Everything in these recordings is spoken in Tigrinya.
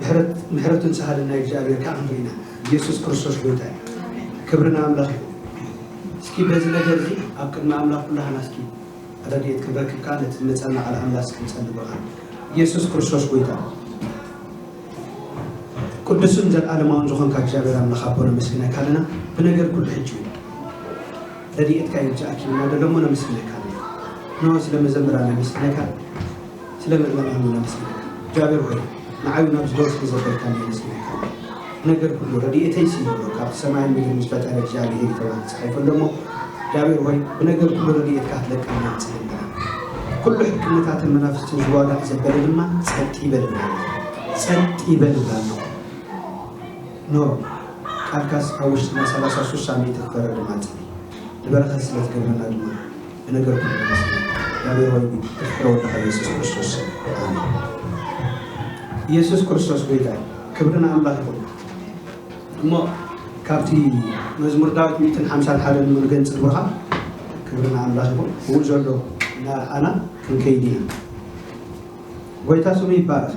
ምሕረት ምሕረቱን ሳህልን ናይ እግዚኣብሔር ካኣ ክንርኢ ኢና ኢየሱስ ክርስቶስ ጎይታ እዩ ክብሪ ንኣምላኽ ይኹን እስኪ በዚ ነገር እዚ ኣብ ቅድሚ ኣምላኽ ኩላህና እስኪ ረድኤት ክንረክብ ካኣ ነቲ ዝመጸና ቃል ኣምላኽ እስኪ ንጸሊ ብቃል ኢየሱስ ክርስቶስ ጎይታ ቅዱስን ዘልኣለማውን ዝኾንካ እግዚኣብሔር ኣምላኽ ኣቦ ነመስግነካ ኣለና ብነገር ኩሉ ሕጂ እውን ረድኤትካ ይብዛኣኪ ኢና ደለሞ ነመስግነካ ኣለና ንሆ ስለ መዘምራን ነመስግነካ ስለ መላና ነመስግነካ እግዚኣብሔር ሆይ ንዓይ ውን ኣብዚ ደርፊ ዘበልካኒ የመስግነካ ነገር ኩሉ ረዲኤተይ ሲ ይብሎ ካብቲ ሰማይን ምድርን ዝፈጠረ እግዚኣብሔር እዩ ተባሂሉ ተጻሒፉ ኣሎ እሞ እግዚኣብሔር ሆይ ብነገር ኩሉ ረዲኤትካ ክትለቀልና ንጽልየካ ኩሉ ሕክምታትን መናፍስትን ዝዋጋእ ዘበለ ድማ ጸጥ ይበል እላለ ጸጥ ይበል እላለ ኖ ቃልካስ ኣብ ውሽጥና ሰላሳ ሱሳ ሚእቲ ክፈረ ድማ ጽሊ ንበረኸት ስለ ትገብረና ድማ ብነገር ኩሉ ንመስል እግዚኣብሔር ወልድ እዩ ፍትሐ ወልድካ ኢየሱስ ክርስቶስ ስም ኣሜን ኢየሱስ ክርስቶስ ጎይታ እዩ ክብሪ ንኣምላክ ይኩን እሞ ካብቲ መዝሙር ዳዊት ሚእትን ሓምሳን ሓደ ንምንገን ጽልውካ ክብሪ ንኣምላክ ይኩን ብኡ ዘሎ እናርኣና ክንከይድ ኢና ጎይታ ስሙ ይባረክ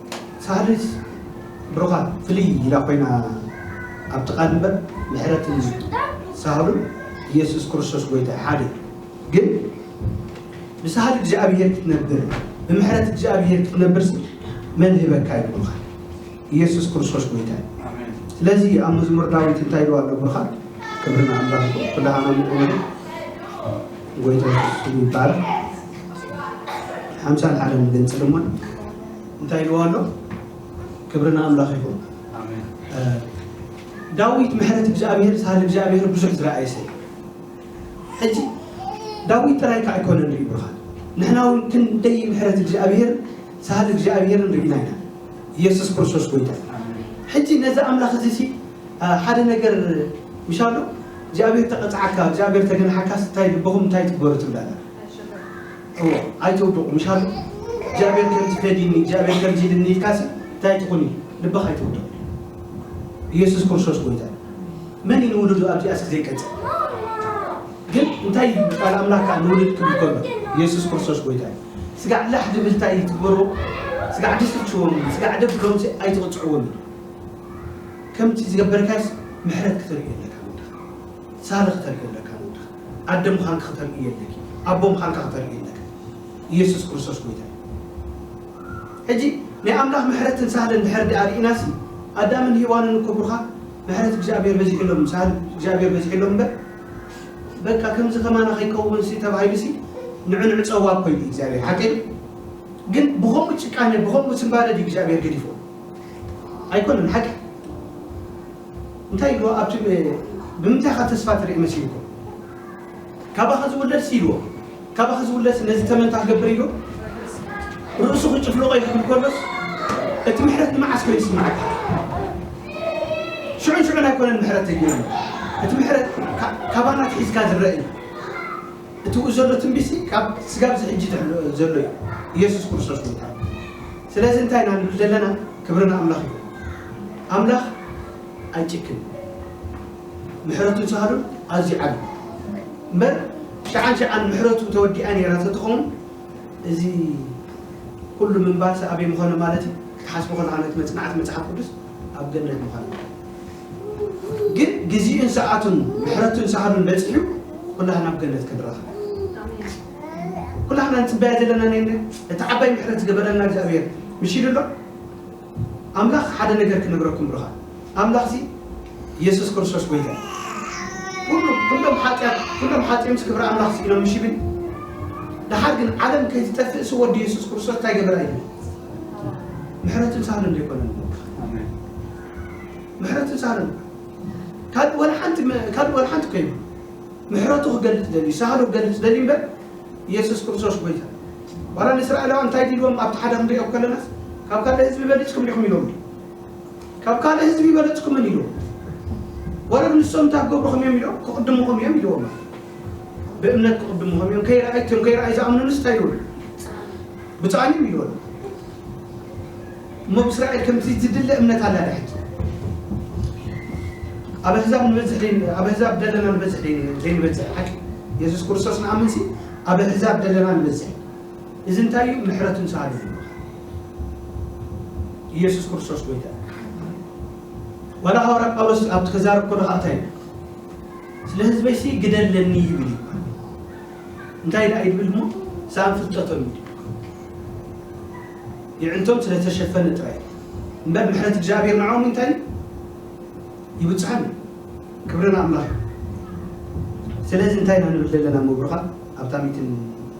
ሳህልስ ብሩኻት ፍልይ ኢላ ኮይና ኣብ ጥቃ ድንበር ምሕረት እዩ ሳህሉ ኢየሱስ ክርስቶስ ጎይታ እዩ ሓደ እዩ ግን ብሳህል እግዚኣብሔር ክትነብር ብምሕረት እግዚኣብሔር ክትነብርሲ መን ህበካ እዩ ብሩኻት ኢየሱስ ክርስቶስ ጎይታ እዩ ስለዚ ኣብ መዝሙር ዳዊት እንታይ ኢሉ ኣሎ ብሩኻት ክብሪ ንኣምላኽ ይኹን ኩላህና ምቁኑ ጎይታ ኢየሱስ ይባረክ ሓምሳን ሓደን ገንጽል እሞ እንታይ ኢልዎ ኣሎ? ክብሪ ንኣምላኽ ይኹን። ዳዊት ምሕረት እግዚኣብሔር ሳህል እግዚኣብሔር ብዙሕ ዝረኣየ ሰብ ሕጂ ዳዊት ጥራይ ከዓ ኣይኮነ ንርኢ ብርሃን ንሕና እውን ክንደይ ምሕረት እግዚኣብሔር ሳህል እግዚኣብሔር ንርኢና ኢና ኢየሱስ ክርስቶስ ጎይታ ሕጂ ነዚ ኣምላኽ እዚ ሲ ሓደ ነገር ምሻ ኣሎ እግዚኣብሔር ተቐፅዓካ እግዚኣብሔር ተገንሓካስ እንታይ ልብኹም እንታይ ትግበሩ ትብላላ እወ ኣይትውድቁ ምሻሉ እግዚኣብሔር ከምዚ ፈዲዩኒ እግዚኣብሔር ከምዚ ኢሉኒ ኢልካሲ ታይ ትኹኒ ልብኻ ኣይትውድቅ ኢየሱስ ክርስቶስ ጎይታ እዩ መን እዩ ንውሉዱ ኣብዚኣስ ግዜ ይቀጽል ግን እንታይ እዩ ቃል ኣምላክ ከዓ ንውልድ ክብል ከሎ ኢየሱስ ክርስቶስ ጎይታ እዩ ስጋዕ ላሕ ድብል ታይ ትግበርዎ ስጋዕ ድስልችዎም ስጋዕ ደብ ከምዚ ኣይትቕጽዕዎም እዩ ከምቲ ዝገበርካስ ምሕረት ክትርኢ ኣለካ ንወድኻ ሳሪ ክትርኢ ኣለካ ኣደ ምኻንኪ ክተርእዩ የለኪ ኣቦ ምኻንካ ክተርእዩ የለክን ኢየሱስ ክርስቶስ ጎይታ እዩ ሕጂ ናይ ኣምላኽ ምሕረትን ሳህልን ድሕር ድኣ ርኢናሲ ኣዳምን ሄዋንን እኮ ብሩኻ ምሕረት እግዚኣብሔር በዚሕሎም ሳህል እግዚኣብሔር በዚሕሎም እምበር በቃ ከምዚ ከማና ከይከውንሲ ተባሂሉሲ ንዕንዑ ጸዋ እኮ እዩ እግዚኣብሔር ሓቂ ግን ብኸምኡ ጭቃነ ብኸምኡ ስምባደ ድዩ እግዚኣብሔር ገዲፎ ኣይኮነን ሓቂ እንታይ ኢልዎ ኣብቲ ብምንታይ ኢኻ ተስፋ ትርኢ መሲልኩም ካባኺ ዝውለድስ ኢልዎ ካባኺ ዝውለድስ ነዚ ተመን እንታይ ክገብር ኢሉ ርእሱ ክጭፍልቆ ይኽእል ከሎስ እቲ ምሕረት ንመዓስ ኮ ይስምዓካ ሽዑን ሽዑን ኣይኮነን ምሕረት ተጊሩ እቲ ምሕረት ካባና ትሒዝካ ዝረአ እዩ እትብኡ ዘሎ ትንቢትሲ ካብ ስጋብ ዝሕጂ ዘሎ እዩ ኢየሱስ ክርስቶስ ምእታው ስለዚ እንታይ ኢና ንብል ዘለና ክብሪ ንኣምላኽ ይኹን ኣምላኽ ኣይጭክን ምሕረቱን ሳህሉን ኣዝዩ ዓቢ እምበር ሸዓን ሸዓን ምሕረቱ ተወዲኣ ነይራ ተትኸውን እዚ ኩሉ ምንባርሲ ኣበይ ምኾነ ማለት እዩ ክትሓስቦ ከለካ ነቲ መጽናዕቲ መጽሓፍ ቅዱስ ኣብ ገነት ምዃነ ግን ግዚኡን ሰዓቱን ምሕረቱን ሳህሉን በጺሑ ኩላህና ኣብ ገነት ክንራኸብ ኩላህና ንጽበያ ዘለና ነይነ እቲ ዓባይ ምሕረት ዝገበረልና እግዚኣብሔር ምሽ ኢሉ ኣሎ ኣምላኽ ሓደ ነገር ክነግረኩም ብሩኻት ኣምላኽ እዚ ኢየሱስ ክርስቶስ ጎይታ ኩሉ ኩሎም ሓጢኣት ኩሎም ሓጢኦምስ ክብሪ ኣምላኽ ስኢኖም ምሽ ይብል ድሓር ግን ዓለም ከይትጠፍእ ሲ ወዲ ኢየሱስ ክርስቶስ እንታይ ገበራ እዩ ምሕረቱን ሳህሉን ዘይኮነ ምሕረቱ ዛረብ ካልእ ወላ ሓንቲ ካልእ ወላ ሓንቲ እኮ የብሉን ምሕረቱ ክገልጽ ደልዩ ሳህሉ ክገልጽ ደልዩ እምበር ኢየሱስ ክርስቶስ ጎይታ ዋላ ንእስራኤላውያን እንታይ ዲልዎም ኣብቲ ሓደ ክንሪኦ ከለናስ ካብ ካልእ ህዝቢ በሊጽኩም ዲኹም ኢሎም ካብ ካልእ ህዝቢ በለጽኩምን ኢሎም ወረብ ንሶም እንታይ ክገብሩኹም እዮም ኢሎም ክቕድሙኹም እዮም ኢልዎም ብእምነት ክቕድሙኹም እዮም ከይረኣይትዮም ከይረኣይ ዝኣምኑንስ እንታይ ይብሉ ብፃዕኒም ኢልዎም እሞ ብእስራኤል ከምቲ ዝድለ እምነት ኣላ ድሕት ኣብ ኣህዛብ ንበዝሕ ኣብ ኣህዛብ ደለና ንበዝሕ ዘይንበዝሕ ሓቂ የሱስ ክርስቶስ ንኣምንሲ ኣብ ኣህዛብ ደለና ንበዝሕ እዚ እንታይ እዩ ምሕረት ንስሃሉ ኢየሱስ ክርስቶስ ጎይታ ዋላ ሃዋርያ ጳውሎስ ኣብቲ ከዛረብ ከሎ ከዓ እንታይ ስለ ህዝበይሲ ግደለኒ ይብል እዩ እንታይ ደኣ ይብል እሞ ሳን ፍልጠቶም እዩ የዒንቶም ስለ ዝተሸፈነ ጥራይ እዩ እምበር ምሕረት እግዚኣብሄር ንዖኦም እንታይ እዩ ይብጽሖም እዩ ክብሪ ንኣምላኽ ይኹን ስለዚ እንታይ ኢና ንብል ዘለና እሞ ብሩኻን ኣብታ ሚእትን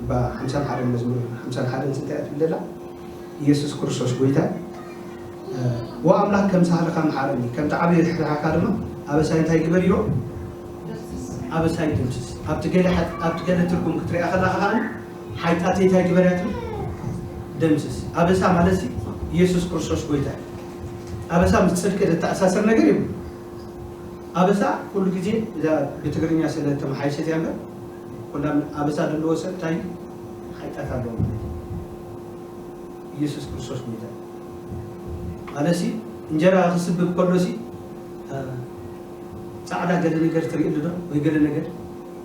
እባ ሓምሳን ሓደን መዝሙር ሓምሳን ሓደን እንታይ እያ ትብል ዘላ ኢየሱስ ክርስቶስ ጎይታ እዩ ዋ ኣምላኽ ከም ሳህልኻ መሓረኒ ከምቲ ዓብዪ ርሕራሕኻ ድማ ኣበሳይ እንታይ ግበር ይሮ ኣበሳይ ደምስስ ኣብቲ ገለ ትርጉም ክትሪኣ ከላኻ ከኣ ሓይጣተይ ታይ ግበር እያ ትብል ደምስስ ኣበሳ ማለትሲ ኢየሱስ ክርስቶስ ጎይታ እዩ ኣበሳ ምስ ጽድቂ ዘተኣሳስር ነገር የብሉ ኣበሳ ኩሉ ግዜ እዛ ብትግርኛ ስለ ተመሓይሸት እያ እምበር ኩላ ኣበሳ ዘለዎ ሰብ ታይ ሓይጣት ኣለዎ ማለት እዩ ኢየሱስ ክርስቶስ ጎይታ እዩ ማለሲ እንጀራ ክስብብ ከሎሲ ጻዕዳ ገለ ነገር ትርእሉ ዶ ወይ ገለ ነገር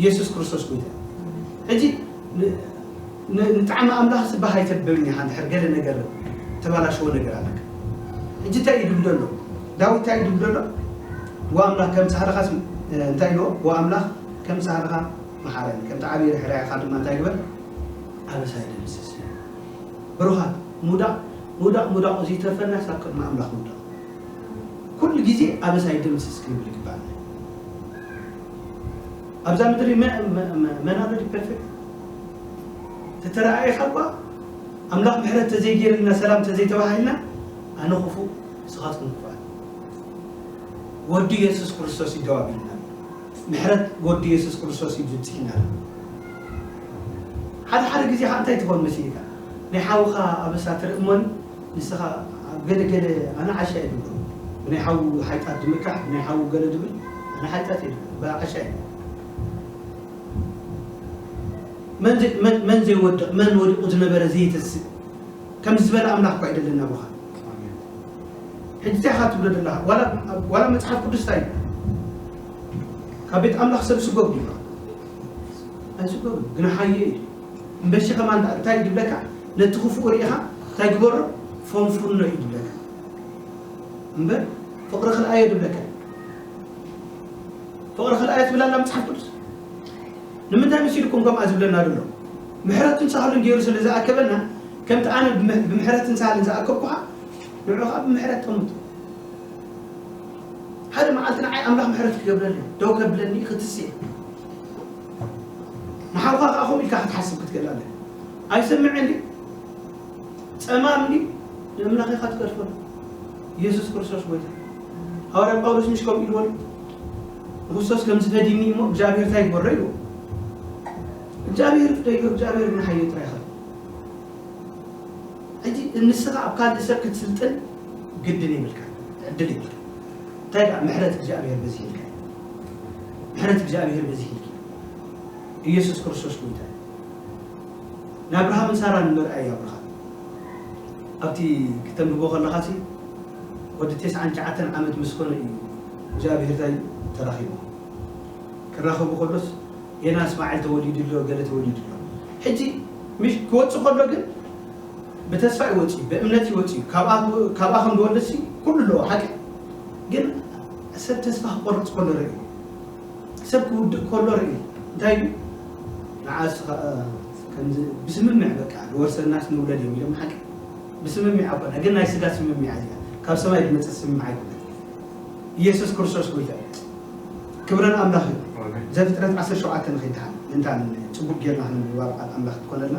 ኢየሱስ ክርስቶስ ጎይታ እዩ ሕጂ ንጣዕሚ ኣምላኽ ዝበህ ኣይተብልን ኢኻ እንድሕር ገለ ነገር ተባላሸዎ ነገር ኣለካ ሕጂ እንታይ እዩ ድብሎ ኣሎ ዳዊት እንታይ እዩ ድብሎ ኣሎ ወኣምላኽ ከም ጻህርኻ እንታይ ኢልዎ ወኣምላኽ ከም ጻህርኻ መሓረኒ ከምቲ ዓብዪ ርሕራይኻ ድማ እንታይ ግበር ኣበሳይ ደምስስ ብሩኻት ሙዳቕ ሙዳቕ ሙዳቕ እዚ ተርፈና ሳብ ቅድሚ ኣምላኽ ሙዳቕ ኩሉ ግዜ ኣበሳይ ደምስስ ክንብል ይግባእ ኣብዛ ምድሪ መናበዲ ፐርፌክት ተተረኣኢኻ እኳ ኣምላኽ ምሕረት ተዘይገይርልና ሰላም ተዘይተባሂልና ኣነ ክፉእ ንስኻትኩም ክፉኣት ወዱ የሱስ ክርስቶስ እዩ ደው ኣቢልና ምሕረት ወዱ የሱስ ክርስቶስ እዩ ዝብፅሕና ሓደ ሓደ ግዜ ከዓ እንታይ ትኾን መሲልካ ናይ ሓውኻ ኣበሳ ትርኢ እሞኒ ንስኻ ኣብ ገለ ገለ ኣነ ዓሻ እየ ድብሎ ብናይ ሓዉ ሓይጣት ድምካሕ ብናይ ሓዉ ገለ ድብል ኣነ ሓይጣት እየ ድብሎ እባ ዓሻ እየ መን መን ዘይወድቕ መን ወዲቑ ዝነበረ ዘይተስእ ከምዚ ዝበለ ኣምላኽ እኳ ይደለና ኣቦኻ ሕጂ እንታይ ኢኻ ትብሎ ዘለኻ ዋላ መፅሓፍ ቅዱስ እንታይ ካብ ቤት ኣምላኽ ሰብ ስጎግ ድዩ ኣይስጎግን ግና ሓየ እዩ እምበሺ ከማን ዳኣ እንታይ እዩ ድብለካ ነቲ ክፉኡ ሪኢኻ እንታይ ግበሮ ፎንፉኖ እዩ ድብለካ እምበር ፍቅሪ ክልኣዮ ድብለካ ፍቅሪ ክልኣዮ ትብል ኣላ መጽሓፍ ቅዱስ ንምንታይ መሲልኩም ከምኣ ዝብለና ዘሎ ምሕረትን ሳህሉን ገይሩ ስለ ዝኣከበና ከምቲ ኣነ ብምሕረትን ሳህልን ዝኣከብኩኻ ንዑ ከዓ ብምሕረት ጠምቱ ሓደ መዓልቲ ንዓይ ኣምላኽ ምሕረት ክገብረለይ ደው ከብለኒ ክትስእ ንሓውካ ከኣ ከምኡ ኢልካ ክትሓስብ ክትክእል ኣለካ። ኣይሰምዕን ድዩ? ጸማም ድዩ? ንኣምላኽ ኢኻ ትገድፈሉ። የሱስ ክርስቶስ ጐይታ እዩ። ሃዋርያ ጳውሎስ ምሽ ከምኡ ኢልዎ ድዩ? ንክርስቶስ ከምዚ ፈዲኒ እሞ እግዚኣብሔር እንታይ ይግበሮ ኢልዎ። እግዚኣብሔር ይፍደዮ፣ እግዚኣብሔር እውን ሓዮ ጥራይ ይኸል። ሕጂ ንስኻ ኣብ ካልእ ሰብ ክትስልጥን ግድን የብልካ፣ ዕድል የብልካ። እንታይ ደኣ ምሕረት እግዚኣብሔር በዚሕልካ እዩ። ምሕረት እግዚኣብሄር በዚሒልኪ እዩ ኢየሱስ ክርስቶስ ጎይታ እዩ ንኣብርሃምን ሳራን ምርኣይ ኣብርሃም ኣብቲ ክተንብቦ ከለኻ ሲ ወዲ ቴስዓን ትሽዓተን ዓመት ምስ ኮነ እዩ እግዚኣብሄር ታይ ተራኺቦ ክራኸቡ ከሎስ ጌና እስማኤል ተወሊዱ ኣሎ ገለ ተወሊዱ ኣሎ ሕጂ ምሽ ክወጽእ ከሎ ግን ብተስፋ ይወጽእ ብእምነት ይወጽእ ካብኣ ካብኣ ከም ዝወልድ ሲ ኩሉ ኣለዎ ሓቂ ግን ሰብ ተስፋ ክቆርጽ ከሎ ርእዩ ሰብ ክውድቅ ከሎ ርእዩ እንታይ ኢሉ ንዓ እስኻ ከምዚ ብስምምዕ በቃ ዝወርሰናስ ንውለድ እዮም ኢሎም ሓቂ ብስምምዕ ኣኮና ግን ናይ ስጋ ስምምዕ ኣዚኣ ካብ ሰማይ ዝመጽእ ስምምዕ ኣይኮነ ኢየሱስ ክርስቶስ ጎይታ ክብረ ንኣምላኽ እዩ ዘፍጥረት 17 ንኺድሓን እንታ ጽቡቅ ጌርና ክንብባ ቃል ኣምላኽ ትኮነልና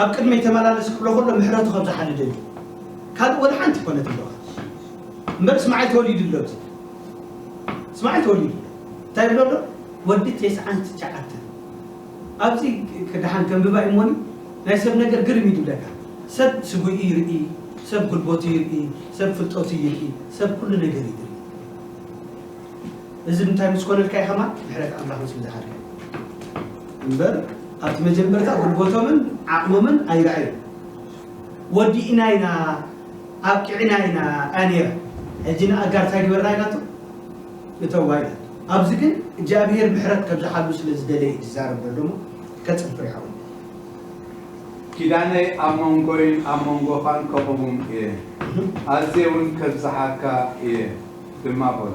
ኣብ ቅድመይ ተመላለስ ክብሎ ከሎ ምሕረቱ ከም ዝሓሊ ዶ ይብል ካልእ ወላ ሓንቲ ኮነት እምበ እምበር እስማዒል ተወሊዱ ኣሎ እቲ እስማዒል ተወሊዱ እንታይ ይብሎ ኣሎ ወዲ ቴስዓን ትሽዓተን ኣብዚ ክድሓን ከንብባ እዩ እሞኒ ናይ ሰብ ነገር ግርም እዩ ዝብለካ ሰብ ስጉኢ ይርኢ ሰብ ጉልበቱ ይርኢ ሰብ ፍልጠቱ ይርኢ ሰብ ኩሉ ነገር ይርኢ እዚ እንታይ ምስ ኮነልካ እዩ ከማን ምሕረት ኣምላኽ ምስ ብዝሓልካ እዩ እምበር ኣብቲ መጀመርታ ጉልበቶምን ዓቕሞምን ኣይርኣዩ ወዲእና ኢና ኣብቂዕና ኢና እያ ነይራ ሕጂ ንኣጋር እንታይ ግበርና ኢላቶ እተዋ ኢላ ኣብዚ ግን እግዚኣብሄር ምሕረት ከብዝሓሉ ስለ ዝደለየ እዩ ዝዛረብ ዘሎ እሞ ከጽፍር ይሓው ኪዳነይ ኣብ መንጎይን ኣብ መንጎኻን ከቕውም እየ ኣዝየ እውን ከብዝሓካ እየ ድማ በሎ።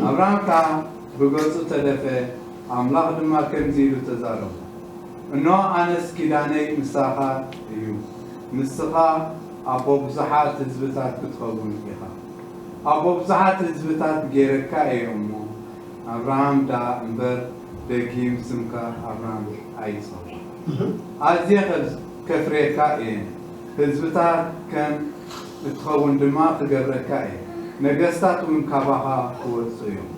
ኣብርሃም ከኣ ብገጹ ተደፍኤ፣ ኣምላኽ ድማ ከምዚ ኢሉ ተዛረቦ፣ እንሆ፣ ኣነስ ኪዳነይ ምሳኻ እዩ፣ ንስኻ ኣቦ ብዙሓት ህዝብታት ክትኸውን ኢኻ። ኣቦ ብዙሓት ህዝብታት ገይረካ እየ እሞ፣ ኣብርሃም ደኣ እምበር ደጊም ስምካ ኣብርሃም ኣይጸዋዕ። ኣዝየ ከፍርየካ እየን፣ ህዝብታት ከም። ክትኸውን ድማ ክገብረካ እየ፣ ነገስታት እውን ካባኻ ክወጹ እዮም።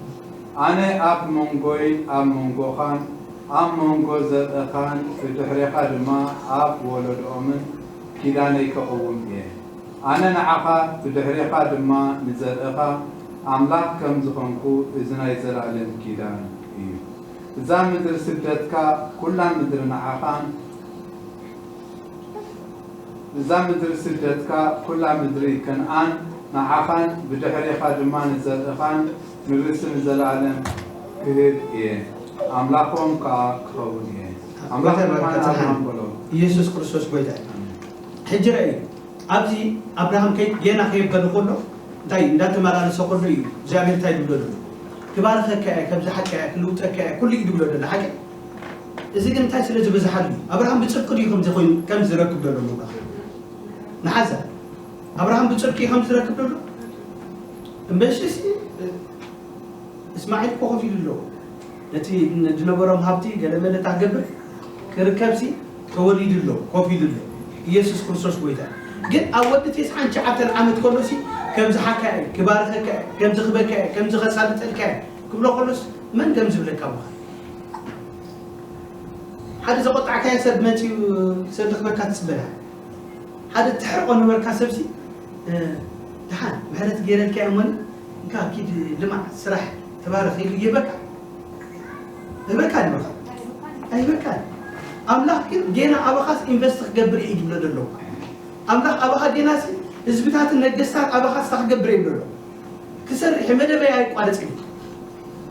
ኣነ ኣብ መንጎይን ኣብ መንጎኻን፣ ኣብ መንጎ ዘርእኻን ብድሕሬኻ ድማ ኣብ ወለዶኦምን ኪዳነይ ከቕውም እየ። ኣነ ንዓኻ፣ ብድሕሬኻ ድማ ንዘርእኻ ኣምላኽ ከም ዝኾንኩ እዚ ናይ ዘለኣለም ኪዳን እዩ። እዛ ምድሪ ስደትካ፣ ኩላ ምድሪ ንዓኻን፣ እዛ ምድሪ ስደትካ ኩላ ምድሪ ከንኣን ንዓኻን ብድሕሬኻ ድማ ንዘርእኻን ንርሲ ንዘለኣለም ክህብ እየ ኣምላኾም ከኣ ክኸውን እየ ኣምላኽ ድማ ንኣብርሃም በሎ ኢየሱስ ክርስቶስ ጎይታ እዩ ሕጂ ረኣዩ ኣብዚ ኣብርሃም ከይ ጌና ከየበለ ከሎ እንታይ እንዳተመላለሰ ከሎ እዩ እግዚኣብሔር እንታይ ድብሎ ደሎ ክባርኸካ እየ ከምዚ ሓቀያ ክልውጠካ እየ ኩሉ እዩ ድብሎ ደሎ ሓቂ እዚ ግን እንታይ ስለ ዝበዝሓሉ እዩ? ኣብርሃም ብጽድቂ ድዩ ከምዚ ኮይኑ ከምዚ ዝረክብ ዘሎ ምባል ንሓዛ ኣብርሃም ብጽድቂ እዩ ከምዚ ዝረክብ ዘሎ እምበሽሲ እስማዒል እኮ ኮፍ ኢሉ ኣለዎ ነቲ ዝነበሮም ሃብቲ ገለ መለታ ገብር ክርከብሲ ተወሊዱ ኣሎ ኮፍ ኢሉ ኣሎ ኢየሱስ ክርስቶስ ጎይታ ግን ኣብ ወዲ ቴስዓን ሸዓተን ዓመት ከሎሲ ከምዚ ሓካ እየ ክባርኸካ እየ ከምዚ ክበካ እየ ከምዚ ከሳልጠልካ እየ ክብሎ ከሎስ መን ከም ዝብለካ ምዃን ሓደ ዘቆጣዕካዮ ሰብ መጺኡ ሰብ ዝኽበካ ትጽበላ ሓደ ትሕርቆ ነበርካ ሰብሲ ድሓን ምሕረት ገይረልካ እሞ እንካ ኪድ ልማዕ ስራሕ ተባረኽ ኢሉ ይህበካ ህበካ ድበካ ኣይህበካን ኣምላኽ ግን ጌና ኣባኻስ ኢንቨስት ክገብር እዩ ዝብሎ ዘሎ ኣምላኽ ኣባኻ ጌናሲ ህዝብታትን ነገስታት ኣባኻ ስታ ክገብር ይብሎ ኣሎ ክሰርሕ መደበይ ኣይቋረጽ እዩ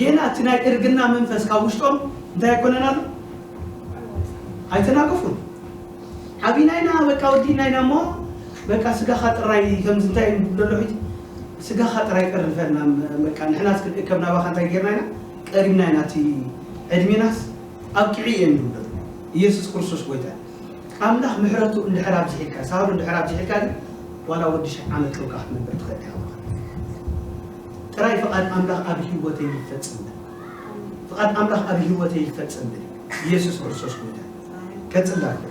ጌና እቲ ናይ እርግና መንፈስ ካብ ውሽጦም እንታይ ኣይኮነን ኣሎ ኣይተናገፉን ዓቢና ኢና በቃ ወዲእና ኢና እሞ በቃ ስጋኻ ጥራይ ከምዚ እንታይ እዩ ዝብሎ ኣሎ ሕጂ ስጋኻ ጥራይ ቀርፈና በቃ ንሕናስ ክንእከብ ናባኻ እንታይ ጌርና ኢና ቀሪብና ኢና እቲ ዕድሜናስ ኣብቂዑ እየ ንብሎ ኢየሱስ ክርስቶስ ጎይታ እዩ ኣምላኽ ምሕረቱ እንድሕር ኣብዚሒልካ ሳህሉ እንድሕር ኣብዚሒልካ ግን ዋላ ወዲ ሽሕ ዓመት ጥብቃ ክትነብር ትኽእል ኢኻ ጥራይ ፍቃድ ኣምላኽ ኣብ ሂወተይ ይፈጸም በል ፍቃድ ኣምላኽ ኣብ ሂወተይ ይፈጸም በል ኢየሱስ ክርስቶስ ጎይታ እዩ ቀጽላ ኣቦይ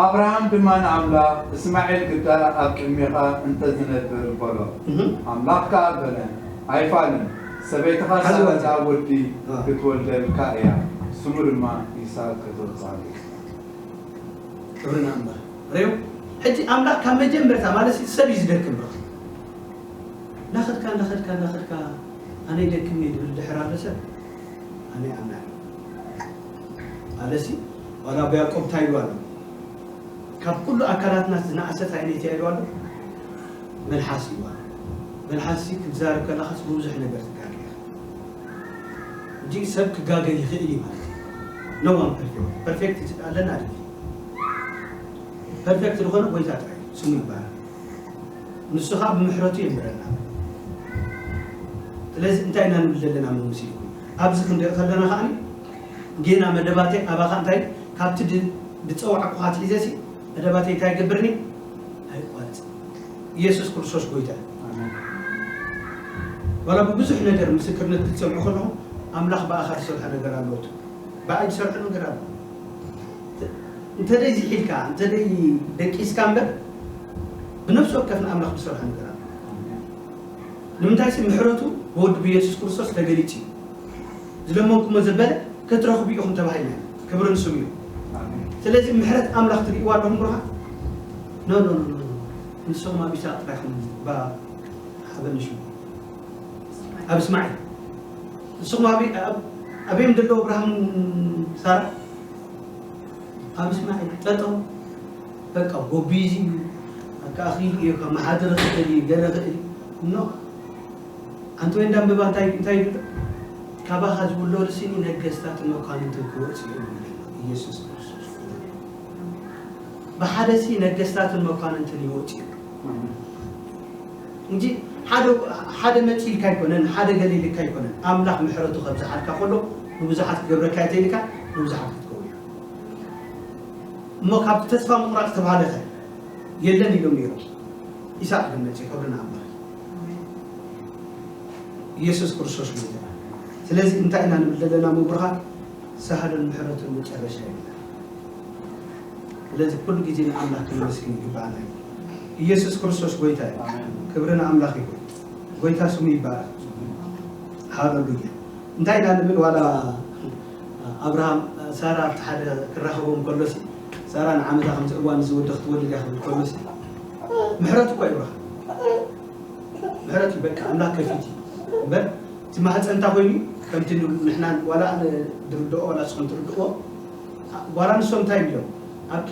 ኣብርሃም ድማ ንኣምላኽ እስማዔል ግዳ ኣብ ቅድሜኻ እንተ ዝነብር በሎ እህ ኣምላኽ ከኣ በለ ኣይፋልን ሰበይትኻ ሓዚ ዋንታ። ሳራ ወዲ እ። ክትወልደልካ እያ ስሙ ድማ ይስሃቅ ከተውጽኣሉ ኢኻ። ክብሪ ንኣምላኽ ሬው ሕጂ ኣምላኽ ካብ መጀመርታ ማለት እዩ ሰብ እዩ ዝደክም በቃ እናኸድካ እናኸድካ እናኸድካ ኣነ ይደክምኒ ድብል ድሕር ኣሎ ሰብ ኣነ ይኣምና ኣለሲ ዋላ ኣቦ ያዕቆብ እንታይ ኢሉ ኣሎ ካብ ኩሉ ኣካላትና ዝነኣሰት ዓይነት እያ ኢሉ ኣሎ መልሓስ ኢሉ ኣሎ መልሓስሲ ክትዛረብ ከለኻስ ብብዙሕ ነገር ትጋገ ኢኻ እንጂ ሰብ ክጋገ ይኽእል እዩ ማለት እዩ ነዋን ፐርፌክት ፐርፌክት ኣለና ድ ፐርፌክት ዝኾነ ጎይታ ጥራይ ስሙ ይባሃል ንሱ ከኣ ብምሕረቱ የንብረና። ስለዚ እንታይ ኢና ንብል ዘለና መምሲልኩም ኣብዚ ክንርኢ ከለና ከኣ ጌና መደባተይ ኣባኻ እንታይ ካብቲ ድጸዋዕኩኻ ኣትሒዘሲ መደባተይ እንታይ ይገብርኒ ኣይቋርጽን። ኢየሱስ ክርስቶስ ጎይታ እዩ። ዋላ ብብዙሕ ነገር ምስክርነት ክትሰምዑ ከለኹም ኣምላኽ ብኣኻ ዝሰርሖ ነገር ኣለዎ ትብሉ። ብኣይ ዝሰርሖ ነገር ኣሎ። እንተደይ ዝሒልካ እንተደይ ደቂስካ እምበር ብነፍሲ ወከፍ ንኣምላኽ ብስራህ ንገር ኣሎ ንምንታይ ሲ ምሕረቱ ብወዱ ብየሱስ ክርስቶስ ተገሊጹ እዩ ዝለመንኩሞ ዘበለ ክትረኽቡ ኢኹም ተባሂልና ኢና ክብሪ ንስሙ እዩ ስለዚ ምሕረት ኣምላኽ ትርእይዋ ኣለኹም ብሩኻ ኖ ኖ ኖ ንስኹም ኣብ ኢሳቅ ጥራይ ኹም ባ ሓበኒ ሽሙ ኣብ እስማዒል ንስኹም ኣበይ ኣበይ ዘለዉ ኣብርሃምን ሳራ ኣብ እስማዒል ጠጠው በቃ ጎቢዙ እዩ በቃ ክኢሉ እዩ ከመሓድር ክእል እዩ ገለ ክእል እዩ እኖ ኣንቲ ወይን ዳምበባ እንታይ እንታይ ይብሉ ካባኻ ዝውለዱ ሲኒ ነገስታትን መኳንንትን ክወጽኡ እዮም ይብሉ ኢየሱስ ክርስቶስ ብሓደ ሲ ነገስታትን መኳንንትን ይወጽ እዩ እንጂ ሓደ ሓደ መጺልካ ኣይኮነን ሓደ ገሊልካ ኣይኮነን ኣምላኽ ምሕረቱ ከብዝሓልካ ከሎ ንብዙሓት ክገብረካ እየ ተይልካ ንብዙሓት ክትከውን ኢኻ እሞ ካብቲ ተስፋ ምቑራጽ ዝተባህለ ኸ የለን ኢሎም ነይሮም ኢሳቅ ግን መጽዩ ክብርና ኣምላኽ ኢየሱስ ክርስቶስ ጎይታና ስለዚ እንታይ ኢና ንብል ዘለና ምብርሃን ሳህልን ምሕረቱን መጨረሻ የለን ስለዚ ኩሉ ግዜ ንኣምላኽ ክነመስግን ይግባኣና እዩ ኢየሱስ ክርስቶስ ጎይታ እዩ ክብሪ ንኣምላኽ ይኹን ጎይታ ስሙ ይባረክ ሃለሉያ እንታይ ኢና ንብል ዋላ ኣብርሃም ሳራ ኣብቲ ሓደ ክራኸቦም ከሎሲ ሳራ ንዓመታ ከምዚ እዋን እዚ ወዲ ክትወልድ እያ ክብል ከሎሲ ምሕረት እኳ ይብረሃ ምሕረት እዩ በቃ ኣምላክ ከፊት እዩ እምበር እቲ ማህፀንታ ኮይኑ ከምቲ ንሕና ዋላ ኣነ ድርድኦ ዋላ ንስኹም ትርድእዎ ጓል ኣንስቶም እንታይ እዮም ኢሎም ኣብኪ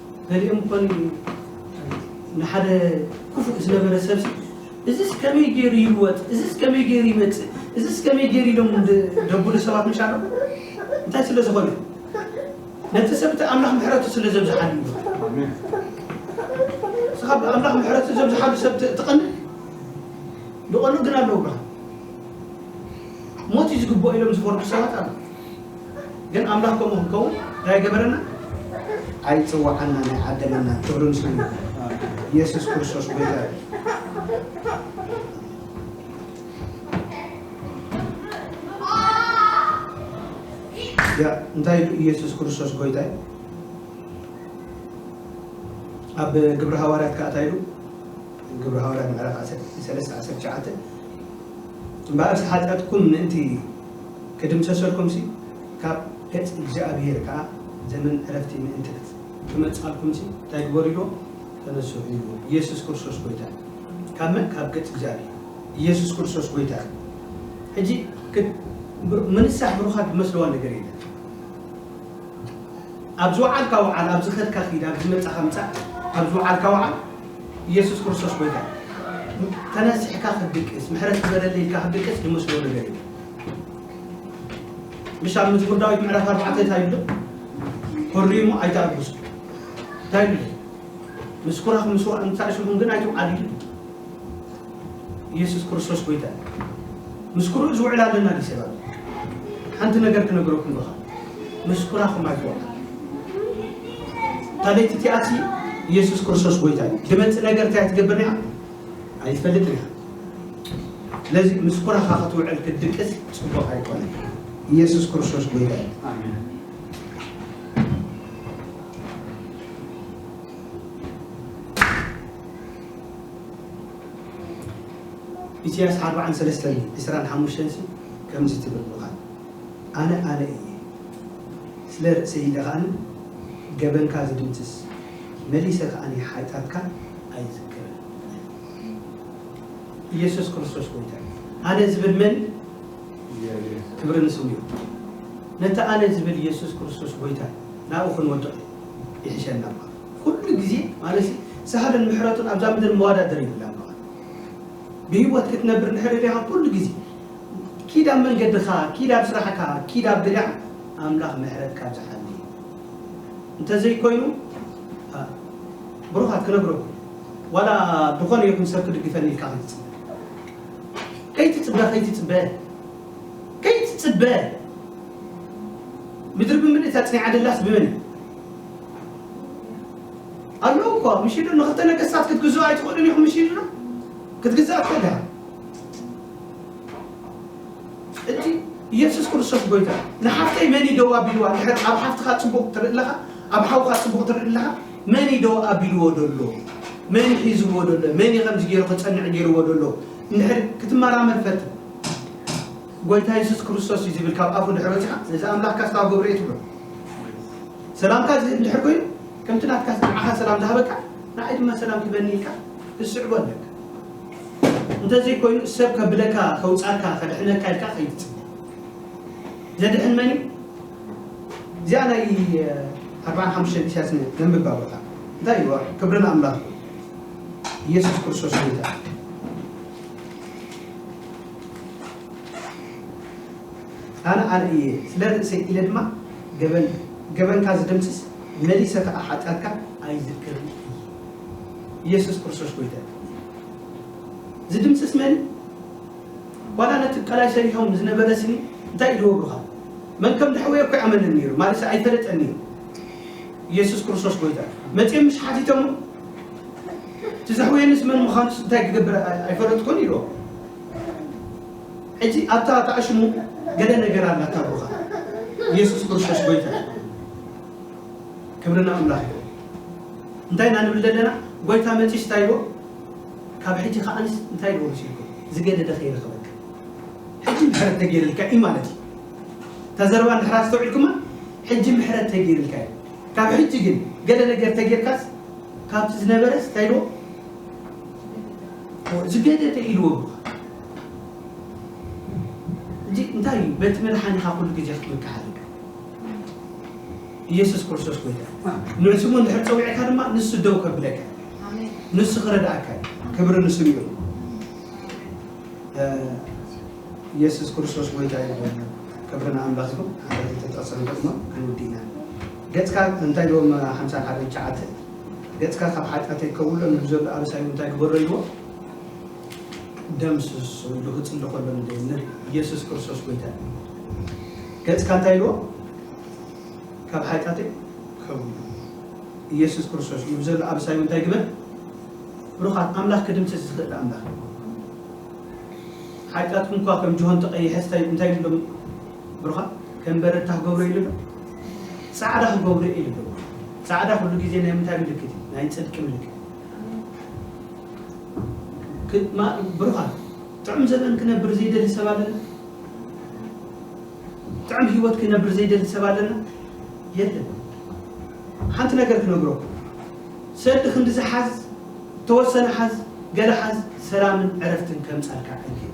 ገሊኦም እኮ ንሓደ ክፉእ ዝነበረ ሰብሲ እዝስ ከመይ ገይሩ ይልወጥ፣ እዝስ ከመይ ገይሩ ይመፅእ፣ እዝስ ከመይ ገይሩ ኢሎም ደብሉ ሰባት ምሽ ኣሎ። እንታይ ስለ ዝኾነ ነቲ ሰብ እቲ ኣምላኽ ምሕረቱ ስለ ዘብዝሓሉ እዩ። እስኻ ብኣምላኽ ምሕረቱ ዘብዝሓሉ ሰብ ትቐንእ ዝቐንኡ ግን ኣለዉ ብርሃን ሞት እዩ ዝግብኦ ኢሎም ዝፈርዱ ሰባት ኣለዉ። ግን ኣምላኽ ከምኡ ክንከውን እንታይ ኣይገበረናን? ኣይጸዋዓናን ኣይዓደለናን። ክብሪ ንስሙ ይኹን። የሱስ ክርስቶስ ጎይታ እዩ። ያ እንታይ ኢሉ ኢየሱስ ክርስቶስ ጎይታ እዩ። ኣብ ግብረ ሃዋርያት ከዓ እንታይ ኢሉ ግብረ ሃዋርያት ምዕራፍ 13 19 እምበኣርስ ሓጢኣትኩም ምእንቲ ክድምሰሰልኩምሲ ካብ ገጽ እግዚኣብሄር ከኣ ዘመን ዕረፍቲ ምእንቲ ክመጽኣልኩምሲ እንታይ ግበሩ ኢልዎ ተነስሑ ኢልዎ ኢየሱስ ክርስቶስ ጎይታ እዩ ካብ መን ካብ ገጽ እግዚኣብሄር ኢየሱስ ክርስቶስ ጎይታ እዩ ሕጂ ምንሳሕ ብሩኻት ዝመስልዋ ነገር የለን። ኣብ ዝወዓልካ ውዓል ኣብ ዝኸድካ ኪድ ኣብ ዝመጻኻ ምጻእ ኣብ ዝወዓልካ ውዓል ኢየሱስ ክርስቶስ ጎይታ እዩ ተነሲሕካ ክትድቅስ ምሕረት ግበረለይ ኢልካ ክትድቅስ ዝመስሎ ነገር እዩ ምሽ ኣብ መዝሙር ዳዊት ምዕራፍ ኣርባዕተ እንታይ ይብሎ ኮሪሙ ኣይተኣግሱ እንታይ ይብሎ ምስኩራኽ ምስዋእ ምሳእሽኹም ግን ኣይትውዓሉ እዩ ኢየሱስ ክርስቶስ ጎይታ እዩ ምስ ኩርኡ ዝውዕል ኣለና ዲ ሰባት ሓንቲ ነገር ክነግረኩም ዶኻ ምስ ኩራኹም ኣይትወቅ ታቤት እቲኣቲ ኢየሱስ ክርስቶስ ጎይታ እዩ ድመፅእ ነገር እንታይ ትገብር ኒያ ኣይትፈልጥ ኒያ ስለዚ ምስ ኩራኻ ክትውዕል ክትድቅስ ፅቡቅ ኣይኮነ ኢየሱስ ክርስቶስ ጎይታ እዩ ኢሲያስ ኣርብዓን ሰለስተን ዕስራን ሓሙሽተን ሲ ከምዚ ትብል ምኻን ኣነ ኣነ ኢየ ስለ ርእሰይ ኢለ ከኣ ገበንካ ዝድምስስ መሊሰ ከኣ ሓጥያትካ ኣይዝክርን እየ ኢየሱስ ክርስቶስ ጎይታ እዩ ኣነ ዝብል መን ክብሪ ንስሙ እዩ ነቲ ኣነ ዝብል ኢየሱስ ክርስቶስ ጎይታ ናብኡ ክንወድቕ ይሕሸና ኩሉ ግዜ ማለት ሳህልን ምሕረቱን ኣብዛ ምድር መዋዳድር የብላን በቓ ብሂወት ክትነብር እንድሕሪ ዲኻ ኩሉ ግዜ ኪድ ኣብ መንገድኻ ኪድ ኣብ ስራሕካ ኪድ ኣብ ግዳዕ ኣምላኽ ምሕረት ካብ ዝሓሊ እንተዘይኮይኑ ብሩኻት ክነግረኩም ዋላ ዝኾነ ይኹን ሰብ ክድግፈኒ ኢልካ ክትጽበ ከይትጽበ ከይትጽበ ከይትጽበ ምድሪ ብምልእታ ጽኒዓ ደላስ ብመን ኣለዉ እኳ ምሽ ኢሉ ንክልተ ነገስታት ክትግዝኡ ኣይትኽእሉን ኢኹም ምሽ ኢሉና ክትግዛእ ትኽእል ኢኻ እቲ ኢየሱስ ክርስቶስ ጎይታ ንሓፍተይ መን እዩ ደው ኣቢልዋ ድሕር ኣብ ሓፍትኻ ፅቡቕ ትርኢ ኣለኻ ኣብ ሓውካ ፅቡቕ ትርኢ ኣለኻ መን እዩ ደው ኣቢልዎ ደሎ መን እዩ ሒዝዎ ደሎ መን እዩ ከምዚ ገይሩ ክፀንዕ ገይርዎ ደሎ እንድሕር ክትመራመር ፈትን ጎይታ የሱስ ክርስቶስ እዩ ዝብል ካብ ኣፉ ድሕሪ ወጺኻ ነዚ ኣምላኽካ ክሳብ ገብርኤ ትብሎ ሰላምካ ዝህብ ድሕር ኮይኑ ከምቲ ናትካ ንዓኻ ሰላም ዝሃበካ ንዓይ ድማ ሰላም ክበኒ ኢልካ ትስዕቦ ኣለካ እንተዘይ ኮይኑ ሰብ ከብለካ ከውጻካ ከድሕነካ ኢልካ ከይትጽብ ዘድሕን መን እዩ እዚኣ ናይ ኣርባዓን ሓሙሽተን ኢሳያስ ነንብብ ኣቦታ እንታይ እዩ ክብሪ ንኣምላኽ ኢየሱስ ክርስቶስ ጎይታ ኣነ ኣርኢ እየ ስለ ርእሰይ ኢለ ድማ ገበን ገበንካ ዝድምስስ መሊሰ ከኣ ሓጢኣትካ ኣይዝክርን እየ ኢየሱስ ክርስቶስ ጎይታይ ዝድምስስ መን ዋላ ነቲ ቀላይ ሰሪሖም ዝነበረ ስኒ እንታይ ኢልዎ ብሩኻ መን ከም ድሕወዮ እኮ ይኣመንን ነይሩ ማለት ኣይፈለጠን ነይሩ ኢየሱስ ክርስቶስ ጎይታ መፅኦም ምስ ሓቲቶሞ እቲ ዘሕውየኒስ መን ምዃኑስ እንታይ ክገብር ኣይፈለጥኩን ኢልዎ። ሕጂ ኣብታ ተኣሽሙ ገለ ነገር ኣላ ታቦኻ ኢየሱስ ክርስቶስ ጎይታ እዩ። ክብሪ ንኣምላኽ ይኹን። እንታይ ኢና ንብል ዘለና ጎይታ መጺኡስ እንታይ ኢልዎ ካብ ሕጂ ከኣንስ እንታይ ኢልዎ መሲልኩም ዝገደደ ከይረኸበካ ሕጂ ምሕረት ተገይርልካ እዩ ማለት እዩ። እታ ዘረባ እንድሕር ኣስተውዒልኩማ ሕጂ ምሕረት ተገይርልካ እዩ ካብ ሕጂ ግን ገለ ነገር ተገይርካስ ካብቲ ዝነበረስ እንታይ ኢልዎ? ዝገደደ ኢልዎ እኮ እዚ እንታይ እዩ? በቲ መድሓኒኻ ኩሉ ግዜ ክትምካሕ ኣለካ። ኢየሱስ ክርስቶስ ጎይታ እዩ። ንስሙ እንድሕር ፀዊዕካ ድማ ንሱ ደው ከብለካ እዩ። ንሱ ክረድኣካ እዩ። ክብሪ ንስሙ ይኹን። እ፣ ኢየሱስ ክርስቶስ ጎይታ እዩ። ክብሪ ንኣምላኽ ይኹን። ሓደ ተጠቕሰን ደግሞ ኣይውድኢናን ገጽካ እንታይ ዶ እም ሓምሳን ሓደን ትሽዓተን ገጽካ ካብ ሓጢኣተይ ከውሎ ንሉ ዘሎ ኣበሳይ እም እንታይ ግበሮ ኢልዎ ደምስሶ ኢሉ ክጽሊ ከሎ ንደይ ንሪ ኢየሱስ ክርስቶስ ጎይታ እዩ ገጽካ እንታይ ኢልዎ ካብ ሓጢኣተይ ከውሎ ኢየሱስ ክርስቶስ ንሉ ዘሎ ኣበሳይ እም እንታይ ግበር ብሩኻት ኣምላኽ ክድምስስ ዝኽእል ኣምላኽ እዩ ሓጢኣትኩም እኳ ከም ጅሆ እንተቐይሐስ እንታይ እንታይ ኢሉ ብሩኻት ከም በረድታ ክገብሮ እዩ ልብል ጻዕዳ ክገብሮ እዩ ልብል ጻዕዳ ኩሉ ግዜ ናይ ምንታይ ምልክት እዩ ናይ ጽድቂ ምልክት ብሩኻት ጥዑም ዘበን ክነብር ዘይደሊ ሰብ ኣለና ጥዑም ህይወት ክነብር ዘይደሊ ሰብ ኣለና የለን ሓንቲ ነገር ክነግረኩ ሰዲ ክንዲ ዝሓዝ ተወሰነ ሓዝ ገለ ሓዝ ሰላምን ዕረፍትን ከምጻልካ ዕንክት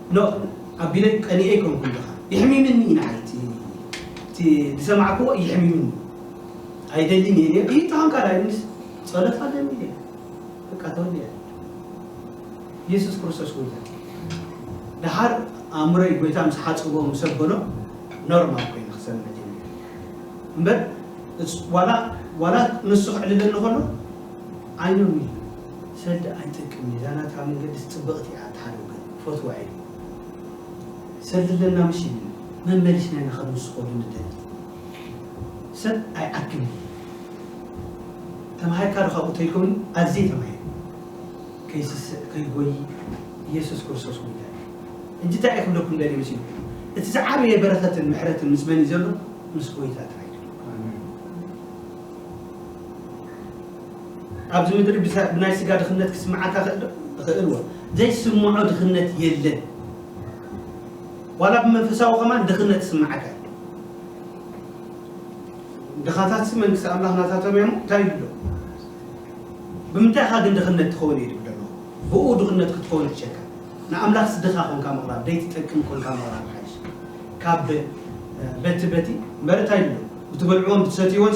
ኖእ ኣቢለይ ቀኒኤ ኣይኮንኩን ድኻ የሕሚምኒ እዩ ንዓይ እቲ እቲ ዝሰማዕክዎ የሕሚምኒ ኣይደልን እየ ነይረ እዩ ተኾንካ ዳይ ምስ ጸሎት ኣለኒ እየ በቃ ተወልደ ኢየሱስ ክርስቶስ ወልደ ድሓር ኣእምሮይ ጎይታ ምስ ሓጽቦ ምስ ኣበሎ ኖርማል ኮይኑ ክሰምዕ ጀሚረ እምበር ዋላ ዋላ ንሱ ክዕልለኒ ከሎ ኣይኖኒ ሰልዲ ኣይጠቅም እዩ እዛ ናትካ መንገድስ ጽብቅቲ እያ ኣትሓልው ግን ክፈትዋ እየ ሰልዲ ኣለና ምሽ ይብል መመሊስና ኢና ከም ንስኮሉ ንደሊ ሰብ ኣይዓክን እዩ ተማሂርካ ዶ ካብኡ ተልኮም ኣዝየ ተማሂረ ከይስስዕ ከይጎይ ኢየሱስ ክርስቶስ ጉይታይ ሕጂ እንታይ እየ ክብለኩም ደልየ መሲሉ እቲ ዝዓበየ በረከትን ምሕረትን ምስ መን እዩ ዘሎ ምስ ጎይታ ጥራይ ኣብዚ ምድሪ ብናይ ስጋ ድኽነት ክስምዓካ ይኽእል ዶ? ይኽእል እወ። ዘይስምዖ ድኽነት የለን። ዋላ ብመንፈሳዊ ከማን ድኽነት ክስምዓካ እዩ። ድኻታትሲ መንግስቲ ኣምላኽ ናታቶም እዮም እንታይ ይብሉ ኣለዉ? ብምንታይ ኢኻ ግን ድኽነት ትኸውን እዩ ዝብል ኣለኹ። ብኡ ድኽነት ክትኸውን ይሕሸካ። ንኣምላኽስ ድኻ ኮንካ ምቕራብ ዘይትጠቅም ኮንካ ምቕራብ ይሓይሽ። ካብ በቲ በቲ እምበር እንታይ ይብሉ ብትበልዕዎን ብትሰትይዎን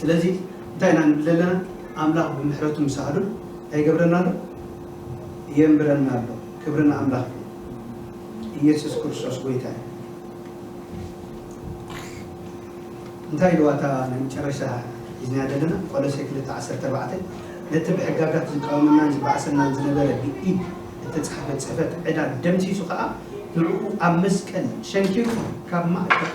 ስለዚ እንታይ ኢና ንብል ዘለና ኣምላኽ ብምሕረቱ ምስ ኣህሉል እንታይ ይገብረና ኣሎ የንብረና ኣሎ ክብሪ ንኣምላኽ እዩ ኢየሱስ ክርስቶስ ጎይታ እዩ እንታይ ኢልዋ እታ ናይ መጨረሻ ሒዝና ዘለና ቆሎሴ 2:14 ነቲ ብሕጋጋት ዝቃወመናን ዝበኣሰናን ዝነበረ ብኢድ እተጻሕፈ ጽሕፈት ዕዳ ደምሲሱ ከዓ ንዕኡ ኣብ መስቀል ሸንኪሩ ካብ ማእከል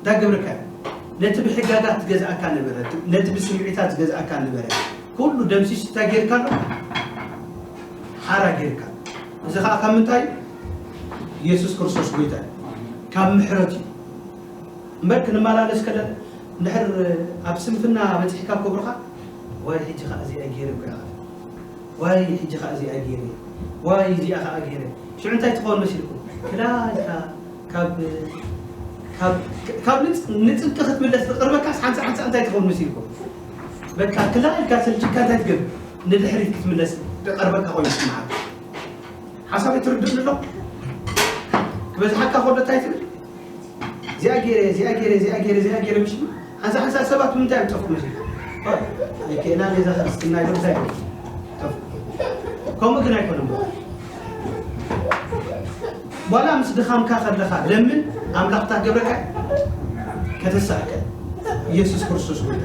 እታ ግብርካያ ነቲ ብሕጋጋት ዝገዝኣካ ነበረ ነቲ ብስምዒታት ዝገዝኣካ ነበረ ኩሉ ደምሲሱ እንታይ ጌርካ ኣሎ ሓራ ጌርካ እዚ ከዓ ካብ ምንታይ ኢየሱስ ክርስቶስ ጎይታ እዩ ካብ ምሕረት እዩ እምበር ክንመላለስ ከለና እንድሕር ኣብ ስንፍና በፂሕካ ክብርኻ ዋይ ሕጂ ከዓ እዚኣ ገይረ እኮ ኢኻ ዋይ ሕጂ ከዓ እዚኣ ገይረ ዋይ እዚኣ ከዓ ገይረ ሽዑ እንታይ ትኸውን መሲልኩም ክላ ኢልካ ካብ ካብ ካብ ንጽ ንጽብቂ ክትምለስ ትቕርበካስ ሓንሳእ ሓንሳእ እንታይ ትኸውን መሲልኩም በቃ ክላ ኢልካ ሰልችካ እንታይ ትገብር ንድሕሪት ክትምለስ ትቐርበካ ኮይኑ ይስምዓካ ሓሳበይ ትርድእኒ ኣሎ ክበዝሓካ ከሎ እንታይ ትብል እዚኣ ገይረ እዚኣ ገይረ እዚኣ ገይረ እዚኣ ገይረ ምሽ ኣዛ ሕሳድ ሰባት ምንታይ እዮም ጠፍኡ መጀመርያ ዋእ ኣይክእላን እየ እዛ ክርስትና ኢሎም እንታይ ገሩ ጠፍኡ ከምኡ ግን ኣይኮነን በቃ ዋላ ምስ ድኻምካ ከለኻ ለምን ኣምላኽ እንታይ ክገብረካ እዩ ከተሳሕከ ኢየሱስ ክርስቶስ ጎይታ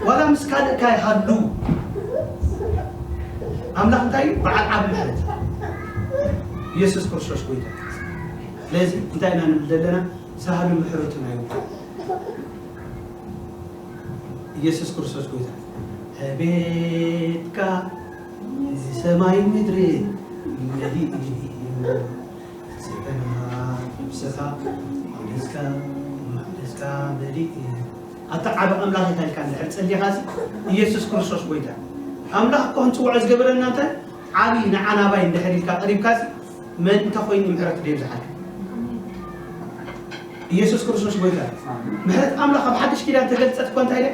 ዋላ ምስ ካልእካ ይሃሉ ኣምላኽ እንታይ እዩ በዓል ዓብ ምሕረት ኢየሱስ ክርስቶስ ጎይታ እዩ ስለዚ እንታይ ኢና ንብል ዘለና ሳህሉ ምሕረቱ ናይ ውልቀይ ኢየሱስ ክርስቶስ ጎይታ ዕቤትካ እዚ ሰማይ ምድሪ መሊኡ ስብሐት ነፍስኻ ኣውደስካ መቅደስካ መሊኡ ኣታ ዓቢ ኣምላኽ እንታይ ኢልካ እንድሕር ጸሊኻሲ ኢየሱስ ክርስቶስ ጎይታ ኣምላኽ እኮ ክንጽውዖ ዝገበረና እንታይ ዓቢ ንዓናባይ እንድሕር ኢልካ ቀሪብካሲ መን እንተ ኮይኑ ምሕረት ደዩ ዝሓልፍ? ኢየሱስ ክርስቶስ ጎይታ እዩ። ምሕረት ኣምላኽ ኣብ ሓድሽ ኪዳን ተገልጸት እኮ እንታይ ደያ?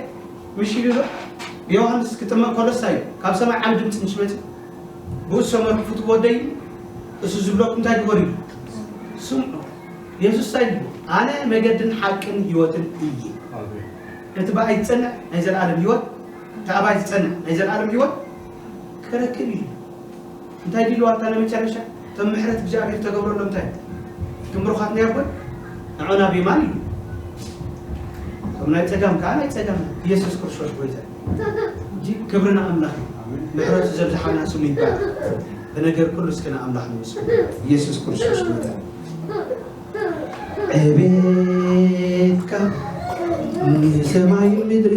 ምሽ ኢሉ ዶ? ዮሃንስ ክጥመቕ ከሎ እንታይ እዩ? ካብ ሰማይ ዓቢ ድምጺ ምስ መጽ ብኡ ዝሰመርኩ ፍትው ወደይ እዩ፣ እሱ ዝብለኩም እንታይ ግበሩ እዩ? ስምዑ። የሱስ እንታይ ኢሉ? ኣነ መገድን ሓቅን ህይወትን እየ። ነቲ ብኣይ ዝጸንዕ ናይ ዘለኣለም ህይወት እቲ ኣባይ ዝጸንዕ ናይ ዘለኣለም ህይወት ክረክብ እዩ። እንታይ ዲልዋ ኣታ ነመጨረሻ እቶም ምሕረት እግዚኣብሔር ተገብረሎም እንታይ እዩ እቶም ብሩኻት ናይ ኣቦይ ንዖና ቢማን እዩ እቶም ናይ ጸጋም ከዓ ናይ ጸጋም ኢየሱስ ክርስቶስ ጎይታ እንጂ ክብሪ ንኣምላኽ እዩ ምሕረቱ ዘብዝሓልና ስሙ ይባረክ ብነገር ኩሉ እስኪ ንኣምላኽ ንመስሉ ኢየሱስ ክርስቶስ ጎይታ ዕቤትካ ንሰማይ ምድሪ